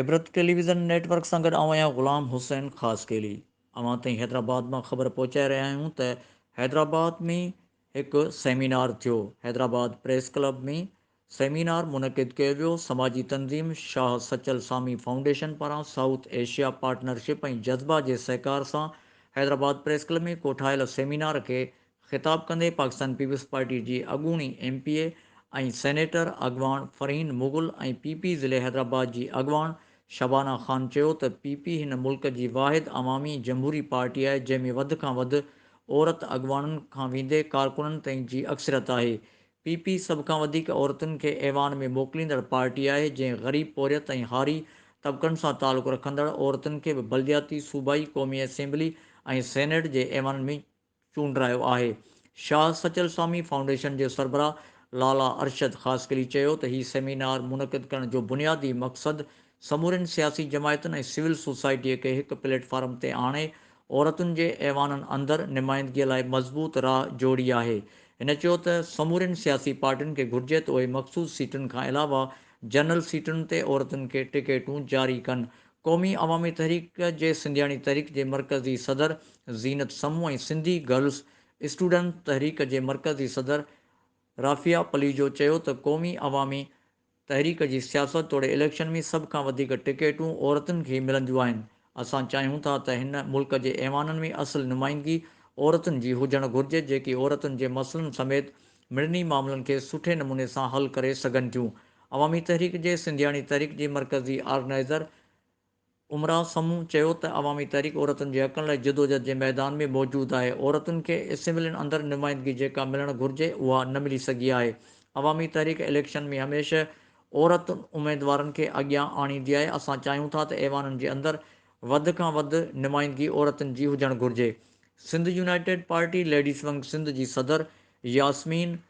عبرت television network سان گڏ آئون آهيان غلام حسين خاصخيلي اوهان تائين حيدرآباد مان خبر پهچائي رهيا آهيون ته حيدرآباد ۾ هڪ سيمينار ٿيو حيدرآباد پريس ڪلب ۾ سيمينار منعقد ڪيو ويو، سماجي تنظيم شاهه سچل سامي فائونڊيشن پاران سائوٿ ايشيا پارٽنرشپ ۽ جذبه جي سهڪار سان حيدرآباد پريس ڪلب ۾ ڪوٺايل سيمينار کي خطاب ڪندي پاڪستان پيپلز پارٽي جي اڳوڻي ايم پي اي ۽ سينيٽر اڳواڻ فرحين مغل ۽ پي پي ضلعي حيدرآباد جي اڳواڻ شبانه خان چيو ته پي پي هن ملڪ جي واحد عوامي جمهوري پارٽي آهي جنهن ۾ وڌ کان وڌ عورت اڳواڻن کان ويندي ڪارڪنن تائين جي اڪثريت آهي پي پي سڀ کان وڌيڪ عورتن کي ايوان ۾ موڪليندڙ پارٽي آهي، جنهن غريب، پورهيت ۽ هاري طبقن سان تعلق رکندڙ عورتن کي به بلدياتي، صوبائي، قومي اسيمبلي ۽ سينيٽ جي ايوانن ۾ چونڊرايو آهي. شاهه سچل سامي فائونڊيشن جي سربراهه لالا ارشد خاصخيلي چيو ته هي سيمينار منعقد ڪرڻ جو بنيادي مقصد سمورين سياسي جماعتن ۽ سول سوسائٽيء کي هڪ پليٽ فارم تي آڻي عورتن جي ايوانن اندر نمائندگيء لاء مضبوط راهه جوڙي آهي. هن چيو ته سمورين سياسي پارٽين کي گهرجي ته اهي مخصوص سيٽن کان علاوه جنرل سيٽن تي عورتن کي ٽڪيٽون جاري ڪن. قومي عوامي تحريڪ جي سنڌياڻي تحريڪ جي مرڪزي صدر زينت سمون ۽ سنڌي گرلز اسٽوڊنٽ تحريڪ جي مرڪزي صدر رافعه پليجو چيو ته قومي عوامي تحريڪ جي سياست توڙي اليڪشن ۾ سڀ کان وڌيڪ ٽڪيٽون عورتن کي ملنديون آهن، اسان چاهيون ٿا ته هن ملڪ جي ايوانن ۾ اصل نمائندگي عورتن جي هجڻ گهرجي جيڪي عورتن جي مسئلن سميت مڙني معاملن کي سٺي نموني سان حل ڪري سگهن ٿيون، عوامي تحريڪ جي سنڌياڻي تحريڪ جي مرڪزي آرگنائيزر عمرا سمون چيو ته عوامي تحريڪ عورتن جي حقن لاء جدوجھد جي ميدان ۾ موجود آهي، عورتن کي اسيمبلين اندر نمائندگي جيڪا ملڻ گھرجي اها نه ملي سگھي آهي، عوامي تحريڪ اليڪشن ۾ هميشه عورتن اميدوارن کي اڳيان آڻيندي آهي، اسان چاهيون ٿا ته ايوانن جي اندر وڌ کان وڌ نمائندگي عورتن جي هجڻ گھرجي، Sindh united party ladies wing Sindh جي صدر ياسمين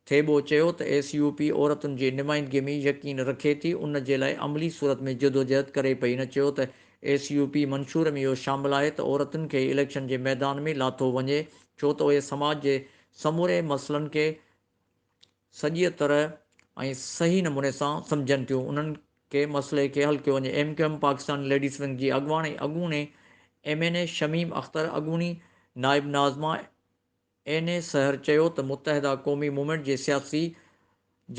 ٿيٻو چيو ته ايس يو پي عورتن جي نمائندگي ۾ يقين رکي ٿي ان جي لاء عملي صورت ۾ جدوجهد ڪري پئي هن چيو ته ايس يو پي منشور ۾ اهو شامل آهي ته عورتن کي اليڪشن جي ميدان ۾ لاٿو وڃي ڇو ته اهي سماج جي سموري مسئلن کي سڄيء طرح ۽ صحيح نموني سان سمجهن ٿيون انهن کي مسئلي کي حل ڪيو وڃي M Q M Pakistan ladies wing جي اڳواڻ ۽ اڳوڻي M N A Shamim Akhtar اڳوڻي نائب ناظمه اين اي سحر چيو ته متحده قومي موومينٽ جي سياسي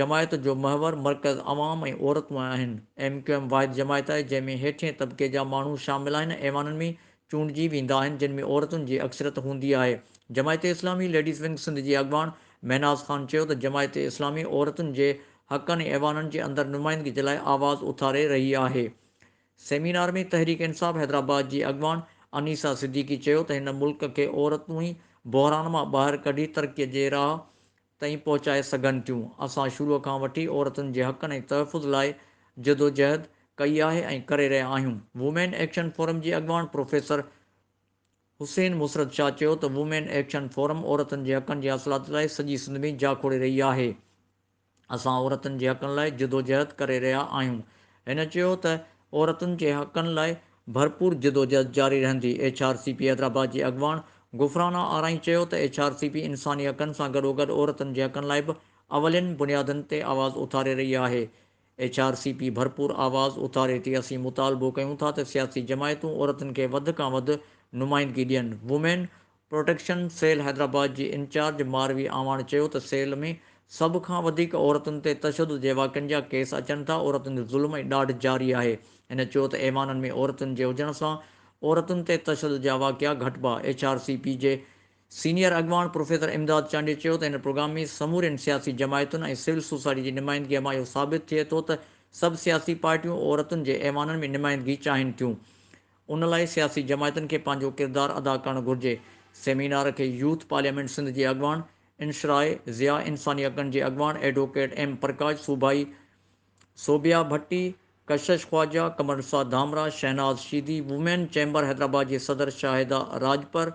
جماعت جو محور مرڪز عوام ۽ عورتون آهن، ايم ڪيو ايم واحد جماعت آهي جنهن ۾ هيٺين طبقي جا ماڻهو شامل آهن، ايوانن ۾ چونڊجي ويندا آهن جن ۾ عورتن جي اڪثريت هوندي آهي. جماعت اسلامي ليڊيز ونگ سنڌ جي اڳواڻ مهناز خان چيو ته جماعت اسلامي عورتن جي حقن ۽ ايوانن جي اندر نمائندگي جي لاء آواز اٿاري رهي آهي، سيمينار ۾ تحريڪ انصاف حيدرآباد جي اڳواڻ انيسا صديقي چيو ته هن ملڪ کي عورتون ئي بحران مان ٻاهر ڪڍي ترقي جي راهه تائين پهچائي سگهن ٿيون، اسان شروع کان وٺي عورتن جي حقن ۽ تحفظ لاء جدوجهد ڪئي آهي ۽ ڪري رهيا آهيون. وومين ايڪشن فورم جي اڳواڻ پروفيسر حسين مسرت شاهه چيو ته وومين ايڪشن فورم عورتن جي حقن جي حاصلات لاء سڄي سنڌ ۾ جاکوڙي رهي آهي، اسان عورتن جي حقن لاء جدوجهد ڪري رهيا آهيون. هن چيو ته عورتن جي حقن لاء ڀرپور جدوجهد جاري رهندي. H R C P Hyderabad جي اڳواڻ غفرانه آرائين چيو ته ايڇ آر سي پي انساني حقن سان گڏوگڏ عورتن جي حقن لاء به اولين بنيادن تي آواز اٿاري رهي آهي. ايڇ آر سي پي ڀرپور آواز اٿاري ٿي، اسين مطالبو ڪيون ٿا ته سياسي جماعتون عورتن کي وڌ کان وڌ نمائندگي ڏين، وومين پروٽيڪشن سيل حيدرآباد جي انچارج ماروي اعواڻ چيو ته سيل ۾ سڀ کان وڌيڪ عورتن تي تشدد جي واقعن جا ڪيس اچن ٿا، عورتن تي ظلم ۽ ڏاڍ جاري آهي. هن چيو ته ايوانن ۾ عورتن جي هجڻ سان عورتن تي تشدد جا واقعا گهٽبا. ايڇ آر سي پي جي سينيئر اڳواڻ پروفيسر امداد چانڊيو چيو ته هن پروگرام ۾ سمورين سياسي جماعتن ۽ سول سوسائٽي جي نمائندگي مان اهو ثابت ٿئي ٿو ته سڀ سياسي پارٽيون عورتن جي ايوانن ۾ نمائندگي چاهين ٿيون. ان لاء سياسي جماعتن کي پنهنجو ڪردار ادا ڪرڻ گهرجي. سيمينار کي يوٿ پارليامينٽ سنڌ جي اڳواڻ انشراء ضياء، انساني حقن جي اڳواڻ ايڊووڪيٽ ايم پرڪاش، صوبائي صوبيا ڀٽي، ڪشش خواجا، قمرنثار ڌامراء، شهناز شيدي، وومين چيمبر حيدرآباد جي صدر شاهده راڄپر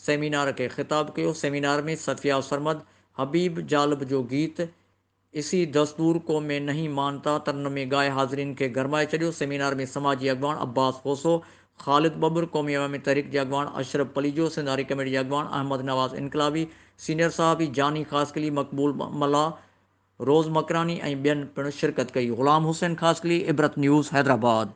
سيمينار کي خطاب ڪيو. سيمينار ۾ صفيه سرمد، حبيب جالب جو گيت، اسي دستور کو مين نهين مانتا ترن مين ڳائي حاضرين کي گرمائي ڇڏيو، سيمينار ۾ سماجي اڳواڻ عباس کوسو، خالد ٻٻر، قومي عوامي تحريڪ جي اڳواڻ اشرف پليجو، سنڌ آري ڪميٽي جي اڳواڻ احمد نواز انقلابي، سينيئر صحافي جاني خاصخيلي، مقبول ملاح، روز مڪراني ۽ ٻين پڻ شرڪت ڪئي. غلام حسين خاصخيلي، عبرت نيوز، حيدرآباد.